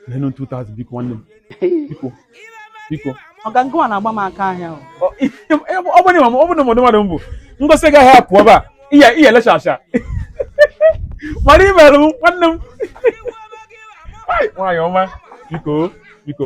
Neenụ 2000 biko nwanne m. Biko. Biko. Ọga ngwa na-agba m aka ahịa. Ọ bụ na ọ bụ na mmadụ mmadụ mbụ. Ngosi gị ahịa pụọ ebe a. Iya iya elecha acha. Mara ime alụ nwanne m. Nwanyị ọma. Biko. Biko.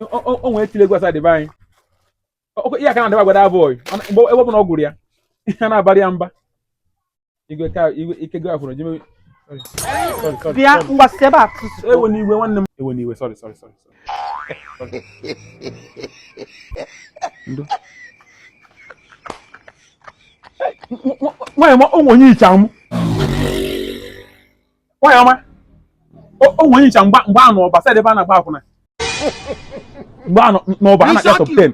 o nwere tile egwu Osadebe anyị ihe aka na-adịba gwada abụọ mgbe ebe ọbụla ọ gụrụ ya ihe na-abalị ya mba igwe ka igwe ike gị afụrụ jime bịa mgbasị ebe a ewena iwe nwanne m ewena iwe sorry sorry sorry ndo nwaanyị ọma o nwe onye i yicha m nwaanyị ọma o nwe onye i yicha mgbe mgbe a nọ Ọba side ebe a na-agba akwụna mgbe a nọ n'Ọba a na-akpọ top 10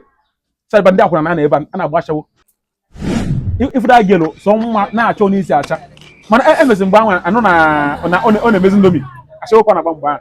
side ebe ndị akwụna na-anọ ebe a na-agba ashawo ị fụ that girl sọ mma na-achọ n'isi acha mana emezi mgbe ahụ a nụ na ọ na-emezi Indomie ashawo ka ọ na-agba mgbe ahụ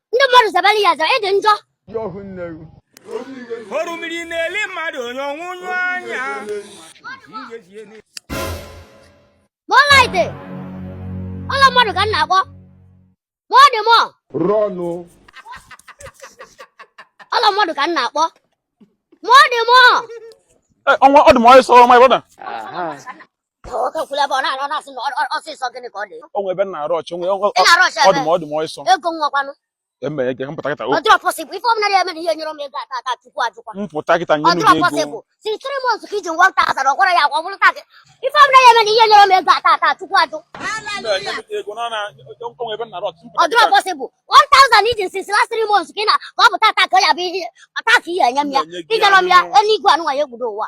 ndị mmadụ zabara ya aza ịdị njọ orumiri na-eli mmadụ onye ọnwụnyụ anya mọlaite ọla mmadụ ka m na-akpọ ma ọ dị mọ rọnụ ọla mmadụ ka m na-akpọ ma ọ dị mọ ọnwa ọ dị m ọsịsọ my brother o nwe ebe na-arush o nwe ọ dị m ọ dị m ọsọ emere gị m pụta kịta m pụta kịta nyenụ gị ego ọ dịrọ possible 1000 i ji since last 3 months ka ị na ka ọ bụ taata ka ọ ya bụ ihe a taa ka ị ya-enye m ya i nyerọ m ya eluigwe anụnwa ya-egbudo ụwa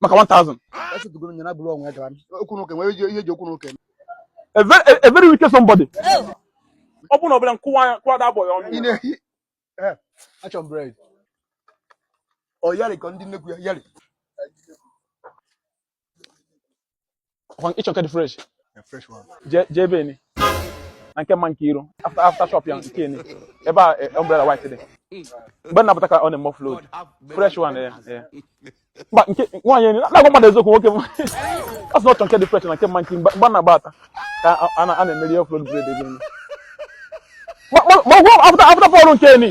maka 1000 a very a very wicked somebody ọ bụrụ na ọbụla m kụwaa anya m kụwaa that boy ọnụ ya. achọ m bread ọ yarị ka ndị nnekwu ya yarị ị chọ nke dị fresh jee ebe ni na nke mma Nkiru after after shop ya nke ni ebe a eh, umbrella white dị mgbe m na-apụta ka ọ na-eme offload fresh one eh, eh. mba nke nwaanyị enyi na-agwa mmadụ eziokwu nwoke ọ sị na ọ chọ nke dị fresh na nke mma Nki mgbe m na-agbata ka a na-emeri offload bread ebe ni ma ọ gwụ after after fọlụ nke ni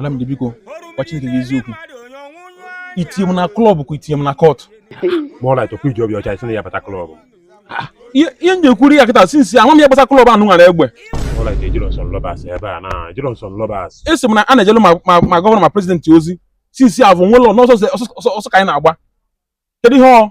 Madam dị biko gwa Chineke gị eziokwu i tinye m na klọb ka i tinye m na kọt ma ọ na-achọkwa iji obi ọcha isi na ya bata klọb ihe m na-ekwuru ya kịta sinsi ama m ya gbasa klọb anụ nwere egbe a sị m na a na-ejelu ma gọvanọ ma prezidenti ozi sinsi avụ nwere n'ọsọ ọsọ ka anyị na-agba kedu ihe ọ